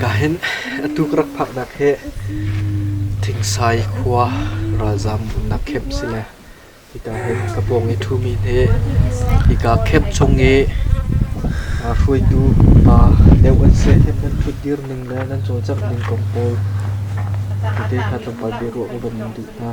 Ka hin atu ka rak phaknak hi Thingsai khua ralzaam umnak camp si le hika hi ka pawng i ṭhumi hi hika camp chung i hruaitu pa deuh an si i nan ṭhut dir ning le nan cawlcangh ning kong pawl tete kha tlawmpal biaruah ka von in duh hna.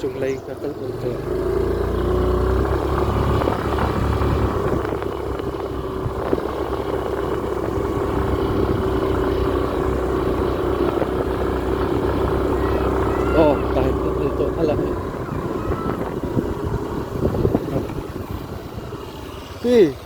Cunglei na kal ul tawn. Aw, dai kan ul tawn hala hei. Pi,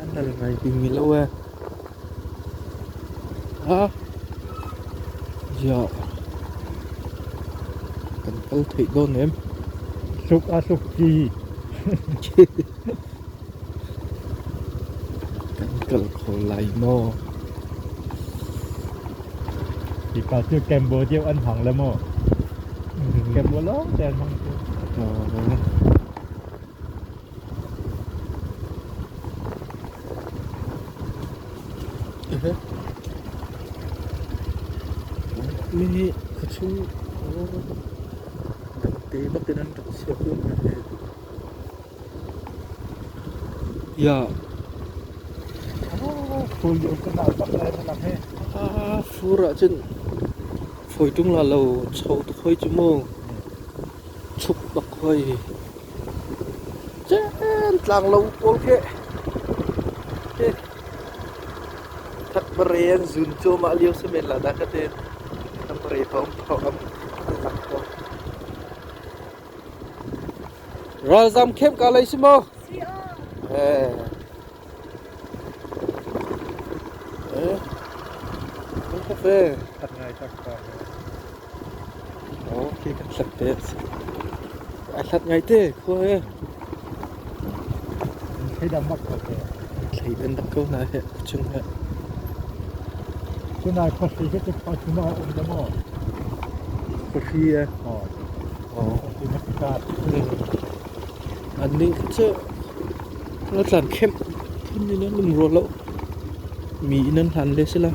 An nan ngai bikmi lo ee. Ziah kan kal theih dawn em? Hluk a hluk ci. Kan kal kho lai maw? Mipa cu Cambodia an hmang le maw? Cambodia lawngte an hmang cu. Oh. Nihin a chung kan te bak in an rak chiah kun hna heh. Fur ahcun fawi ṭung la lo, cho tuk hoi cu mu. Chuk bak hoi. Cengtlang lo pawl khi. Takbare an zun cuahmah lio si men la dah ka te. Takbare thawng thawng an lak ko. Ralzam khem kaa lei si maw? Hat ngai tak pa he. Khi kan hlat te. Ai hlat ngai te khua he. An thleidang bak ko heh. An thleidan dak ko hna heh a cung heh. Cun ai khuahri vete khuahri maw a um lo maw? Khuahri e. Oh. Oh. Khuahri na ka kat. An nih cu na tlan khem phun in an um rua lo. Mi in an hlan le si la.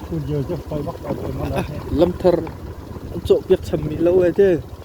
Fuh lio je fai bak dah te ma la heh. Lamthar an cawh piak cham mi lo e te.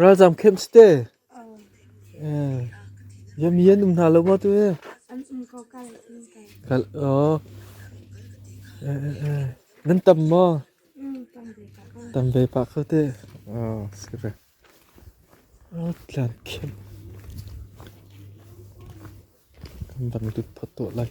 Ralzaam khem si te. Miami an um hna lo maw tu hi? An um ko kal. Kal aw. Nan tam maw? Tam ve pah kho te. Aw si ve. Aw tlan khem. Kan bang tut phot to lai.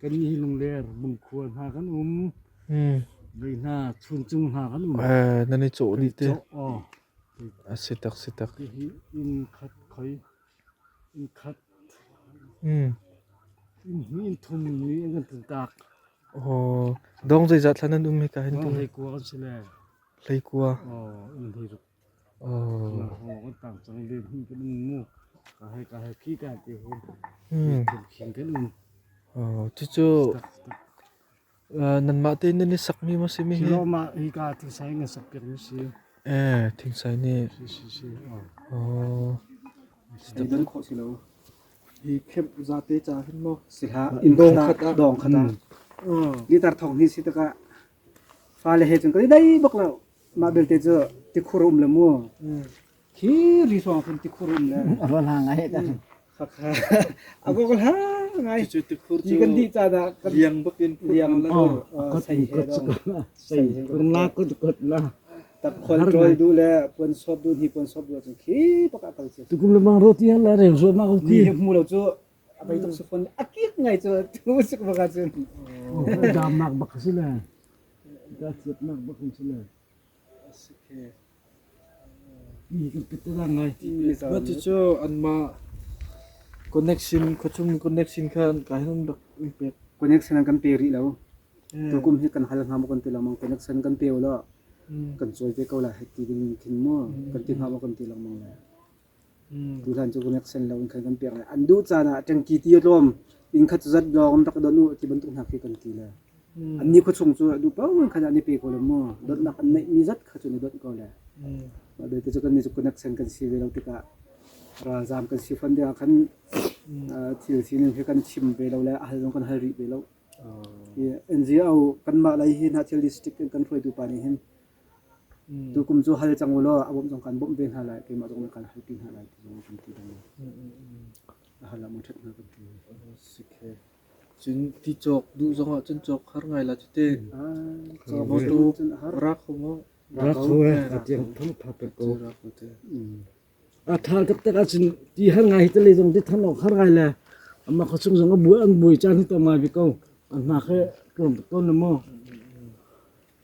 kan hi lungler bungkhual hna kan um mei hna chungcung hna kan um nan i cawh ni te a si tak si tak hihi inn khat khoi inn khat inn hi inn thum ni an kan tak oh dong zei zat thlan an um hi ka hin tung hlei kua kan si le hlei kua inn hei ruk Cucu nanmah tein nan i sakmi maw simi hi? Eh, thingsai nih. Oh. Hi khep zate cha hin mo sikha dong khat dong khat ni tar thong hi si taka fa le he chun kali dai bok lo Mah belte cu tikhur um le mu. Khi ri hrawng cun tikhur um le. A rual ha ngai ta. A gok la ngai. Cucu tikhur cu Ni kan dih caan ah kan liang bak in liang la Oh, dur kut he kut dong. sei kun la kut kut la. tak khol trol du le puan sop du ni puan sop du cun khi bak a kal ci. Tukum lemang roti han la reu zuam ma Ni hmu lo cu a mei tuk suk a kik ngai cu tu suk bak cun damnak bak si le da ciat nak bak si le sukhe Ba tu cu an ma connection khachum connection khan kai han rak pek connection an kan pe ri lo to kum hi kan hal ngam kan ti lo mang connection kan pe lo kan choi ve ko la heti ding khin mo kan ti ngam kan ti lo mang la Tutan cu kan rak sen lo in khan kan piak lai. An duh caan ah ṭangki ti a tlawm. Inn khat cu zat lawng rak donh u ti bantuk hna khi kan ti le. An nikhua chung cu a duh paoh in khan ah ni pe ko le mu. Donnak an neihmi zat kha cu na donh ko le. Mah belte cu kannih cu kan rak sen kan si ve lo tikah ralzaam kan si fon dingah khan thil sining hi kan chim ve lo le a hal zong kan hal rih ve lo. NGO kanmah lei hi hna thil district in kan hruaitu pa nih hin Cu kum cu hal cang u law a bawmh zong kan bawmh ve hna lai, keimah zong nih kan halpi hna lai ti zong kan ti bang a hal ah maw ṭhat hna kan ti. Si ke. Cun ti cawk duh zong ah cun cawk har ngai la cu te. Ah, Motu cun a har. ra kho maw? Ra kho e, a tiang thang tha pe ko. Ra kho te. A thar tak tak ahcun ti har ngai hi tale zong ti than awk har ngai le amma khosung zong a buai an buai caan hi tam ngai bi ko. A hna ke tlawm ton na maw?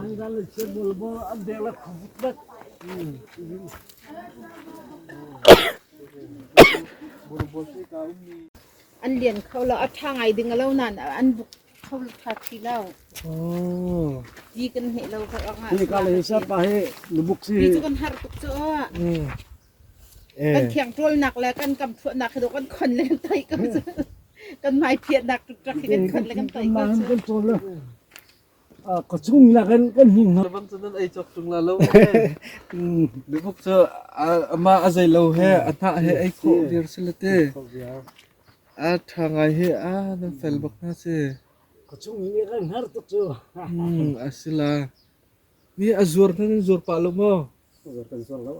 Angal le cebulbul an dek le khawvutvet. An lian kho lo. A ṭha ngai ding a lo nain an buk kho ṭha ti lo. Ti kan hmeh lo ko ruangah. Hi ka le sa pa hi na buk si hi. Ti cu kan har tuk cu. Kan thiangṭawlnak le kan kamchuahnak hi do kan khon le kan tei ko cu. Kan hmaipiahnak ṭuṭak hi kan khon le kan tei ko cu. kan ṭawl le ah ka chung nakin kan hni hna bang cun an ei cawk ṭung la lo bigup cu ama a zei lo he a hnah he ei khawh viar si le te a ṭha ngai hi a nan fel bak hna si. Ka chung i kan har tuk cu. a si la. Nih a zuar kan zuar pah lo maw? Zuar kan zuar lo.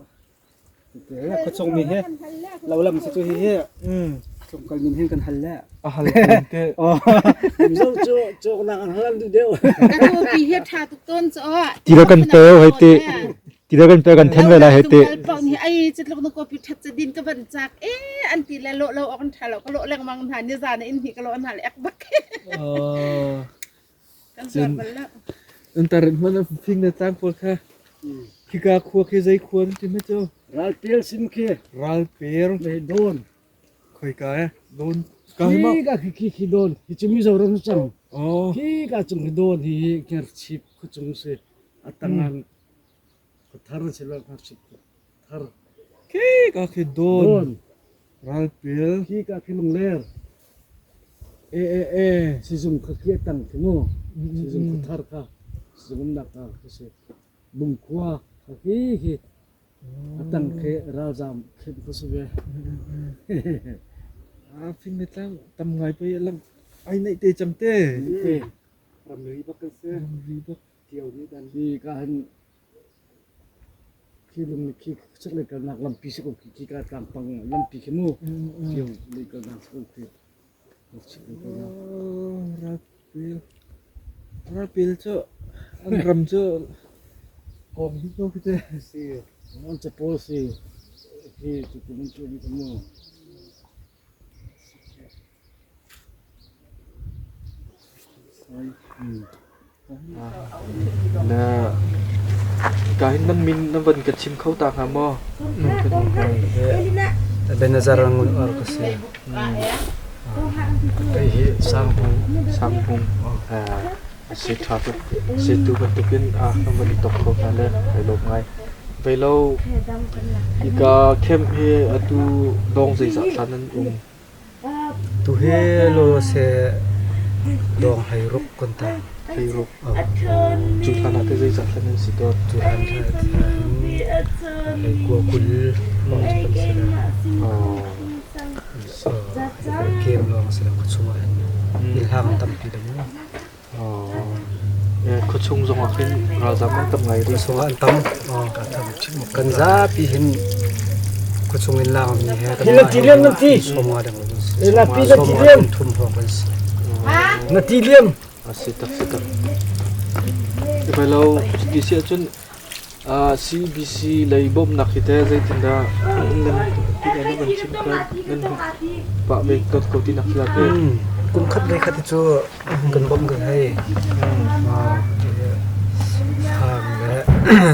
Khuachung mi hi lo lam si cu hi hi khuachung kal min hin kan hal le. A hal kun te. Zo cu cok nang an hal du deu. Ti hi tha tuk ton cho. Tira kan pe hoi ti. Tira kan pe kan then ve la hoi ti. Pau ni ai chatluk na ko pi that cha din ka ban chak e an ti le lo lo ok tha lo ka lo leng mang na ni za na in hi ka lo na le ek bak. Cun an tar hmanh ah thingnattlang pawl kha khika khua khi zei khua an ti hmanh cu Ralpel sin khi Ralpel le Dawn khoika eh Dawn ka hi ma Khika khi khi khi Dawn hi cu Mizoram si cang aw khika cung hi Dawn hi Hngerchip khuacung si a tangan Khika khi dawn, ralpil. Khika khi lungler. E e e. Sizung kha khi tang khi mu. Sizung kha thar ka. Sizung um nak ka khi si. Bungkhua kha khi khi. Atang khi ralzam khin khu si ve. Ah, fing ni tlang tam ngai pai lang ai nei te cham te. Ramri bak kan se. Ramri bak Hi ka han khi lung ni khi sak le kalnak lampi sak u khi ka tlang pang lampi khi mu yo le kalnak sak u khi sak le kalnak Rapil cu an ram cu kom hi ko khi te si non cha pol si khi tu kun chu ni ka mu Ka hin nan min na van ka chim kho ta hnga maw? Ebenezer Ngun Or ka si. Kei hi Sang Hmung. Sang Hmung. Asi ṭha tuk. Zeitu bantukin ah kan van i tok kho hna le ai lawm ngai. Vei lo, hika camp hi atu dawng zeizat hlan an um? Tu hi lo seh dawng hei ruk kan ta. Hei ruk. Cu hlan ah te zeizat hlan an si dawt? Cu hlan hei hei kua kul lawng cu kan si le. Camp lawng si le ka chungah hin ilhang tampi dang. Khuachung zongah khin ralzam an tam ngai. Ruihsung ah an tam. Kan zapi hin khuachung in laakmi he kan mah hi sawm nga dang kan si. Sawm nga kum thum hrawng kan si. Na ti liam? A si tak si tak. Tibai lo ti si ahcun CBC lei bawmhnak hi teh zeitindah nan van chim kha nan pah ve ko ti nak khi la teh? Kum khat le khat cu kan bawmh kan hei. Farm le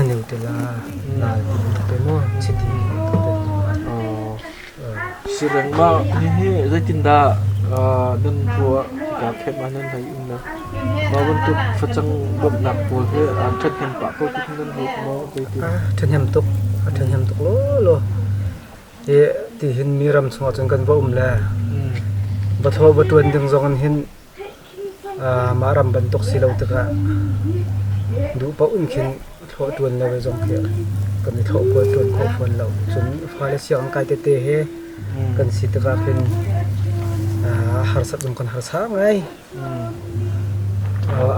Nutella nal te maw chiti te. si lengmang. Hihi zeitindah nan ruah tikah keimah nan hei umnak mah bantuk facang bawmhnak pawl hi an ṭhathnem pah ko tikhin nan ruat maw zeitin? A ṭhahnem tuk, a ṭhahnem tuk lawlaw. Hi tihin mi ram chungah cun kan va um le va thaw va ṭuan ding zong in hin Mah ram bantuk si lo tikah duh paoh in khin thlawh ṭuan lo zong khi kan i thlawh kual ṭuan kho fawn lo. Cun fale sianginn kai tete he kan si tikah khin harsat zong kan harsa ngai.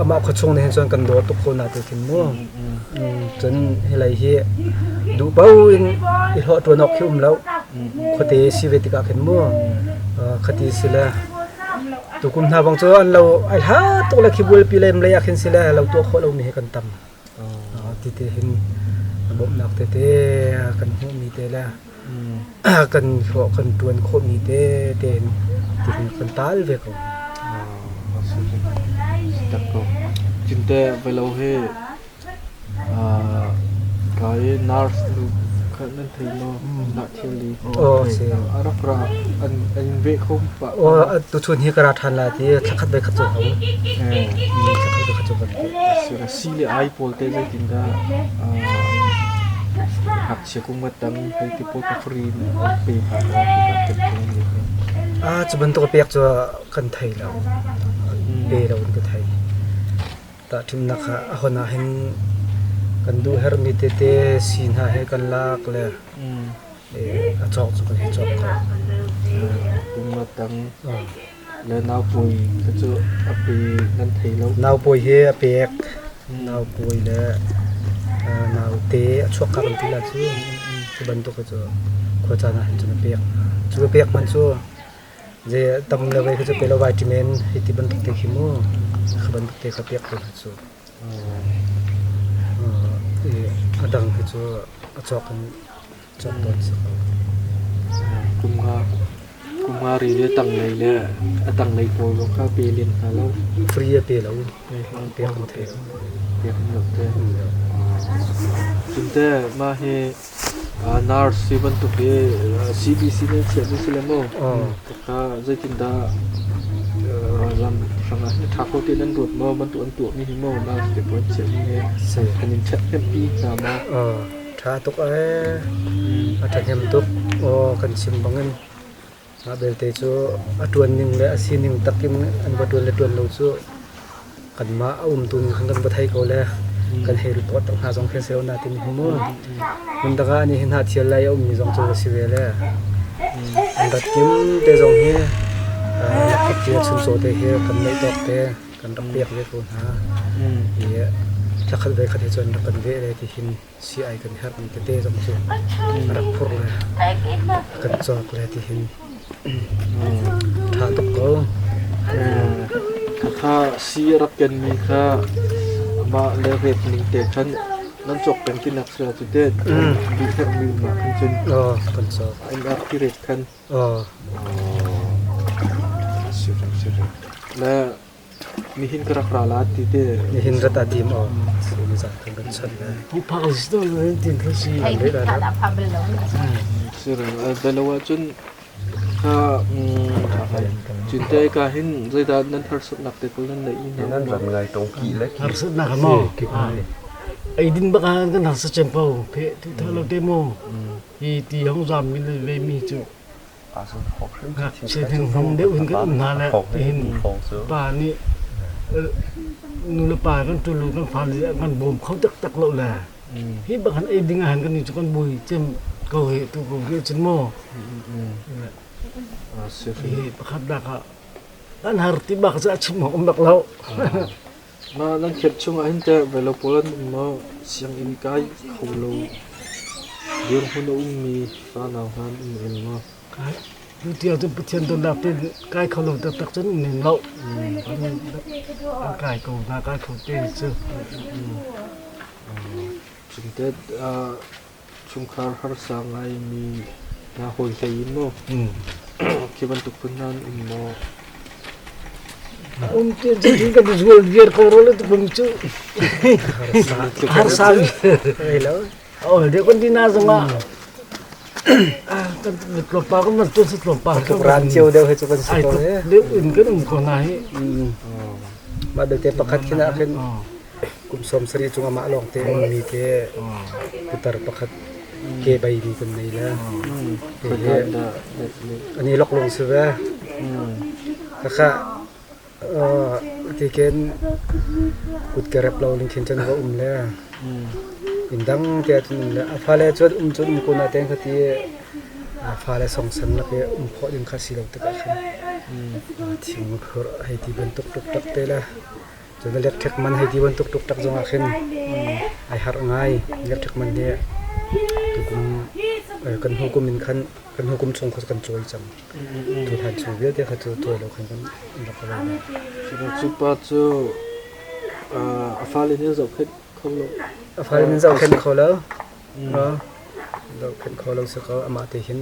Amah khuachung nih hin cun kan dawt tuk ko na te khin mu. Cun hi lei hi duh paoh in i hlawh ṭuan awk khi um lo. Khuate si ve tikah khin mu. Khati si le Tukum hna bang cu an lo ai hlat tuk le khi bualpi le mlei ah khin si le lo tuah khawh lomi hi kan tam. Ah, ti te hin bawmhnak tete kan hmuhmi te le kan hlawh kan ṭuan khawhmi te te hin tihin kan taal ve ko. Ah, si. Tak ko. Cinte velo hi Kaa i nurse nu kha nan thei maw? Tiah thilri an thei hna. A rak ra. An in veh kho pah. Aw, tuchun hi ka ra ṭhan lai ti thlakhat ve khat cu hau. Thlakhat ve khat cu ka ra. Sile ai pawl te zeitindah hapsia kung matang hei ti pawl ka fri pe hna ko tikah kan kung ni kha. Ah, cu bantuk pek cu kan thei lo. Be lo in ka thei. tahṭimnak ah a hon ahhin kan duh herhmi tete sii hna hi kan lak le a cawk cu kan hi cawk ko. Kum nga tang le naupawi kha cu a pe nan thei lo. Naupawi hi a pek naupawi le naute a chuakkak an ti la cu cu bantuk cu khuacaan ahhin cun a pek cu a pek hmanh cu Zei a tam le vai khi cu pehlo vai ṭim in hi ti bantuk te khi mu, kha bantuk te kha pek ko hna cu. I a dang hi cu a cawk in cawk tawn a si ko. Kum nga, kum nga ri le tanglei le a tanglei pawl zong kha pe len hna lo. Free a pe lo, pek an thei lo. Pek an lo te. Cun te mah hi NARS ti bantuk hi CDC nih an chiahmi a si le maw? Tangka zeitindah ram hrang ah tha kho tein an ruat maw? Bantuk an tuahmi hi maw NARS tepu an chiahmi hi an in ṭhathnempi hna maw? Ṭha tuk ee. A ṭhahnem tuk. Aw kan chim bangin. Mah belte cu a ṭuan ning le a sining tak in an va ṭuan le ṭuan lo cu kanmah a umtu ning khan kan va thei ko le kan hei rit awt hna zong khi a si lo na ti mi hi mu. Hmundang ah nih hi hnathial lai a ummi zong cu va si ve le an rat kim te zong hi lakkip te chuncaw te hi kan neih tawk te kan rak pek ve ko hna i thla khat ve khat hi cu an rak kan veh le ti hin si-ai kan herhmi tete zong cu a rak phur le kan cawk le tihin tha tuk ko. Khatha si a rak kenmi kha amah le ret ning te khan nan cawk peng tinak sira cu te bi herhmi ma khan cun oh kan cawk an rak ti ret khan oh si reng si reng le Nihin ka rak ra la ti te. Nihin rat ah dim aw. Zan kan kan chan le. Huphang zor din kan si. Thai nih kan a phang bel lo. Sirung belo ahcun ka cintai ka hin zeidah nan harsatnak te pun nan neih ni nan ram ngai tong ki le harsatnak mo ai din bak han kan harsat chem pau pe ti tha lo te mo hi ti hong zam min ve mi chu Sianghlim deuh in kan um hna le tihin pa nih nulepa kan ṭulu kan fale kan bawm kho taktak lo le hi bakhan ei ding ahhin kan ni cu kan bui cem ko hi tu ko ke cun maw hi pakhat dak ah kan har ti bak cu a chim hong um bak lo Na nan khet chung ahhin teh Velopolan na sianginn kai kho lo dirhmun a ummi fanau hna an um rem maw? Tuti ahcun Pathian dawtnak te kai kho lo taktak cun um lem loh. An kai ko hna, kai kho te cu. Cun teh chungkhar harsa ngaimi hna hawi hlei in maw khi bantuk phun hna an um maw Un ti an ti kan zual viar kho ro le tu phung chu. Harsa ai lo. Ol de kon dina zong a kan tlop pa ko mas tu su tlop pa ko ran chiu deu he chu kan su to le in kan um ko na hi. Ma dal te pakhat kina khin Kum sawm sarih chung amah lawngte a ummi te putar pakhat ke baimi kan nei le ke hi an i loklong si ve. Khakha ti ken kut ke rep lo ning khin chan va um le inn dang te ah cun um le a fale cu um cun um kun ah teng kha ti a fale songsan lak i um khawh ding kha si lo tikah khan thing a phur hei ti bantuk tuk tak te le Cun electric man hei ti bantuk tuk tak zongah khin ai harh ngai. Electric man hi tukum kan hnu kum in khan kan hnu kum chung kha kan cuai cang. Tu hlan chung vialte kha cu cuai lo khan kan rak ka ral bang. Cu pa cu a fale nih zohkhenh kho lo. A fale nih zohkhenh kho lo. Zohkhenh kho lo si ko. Amah te hin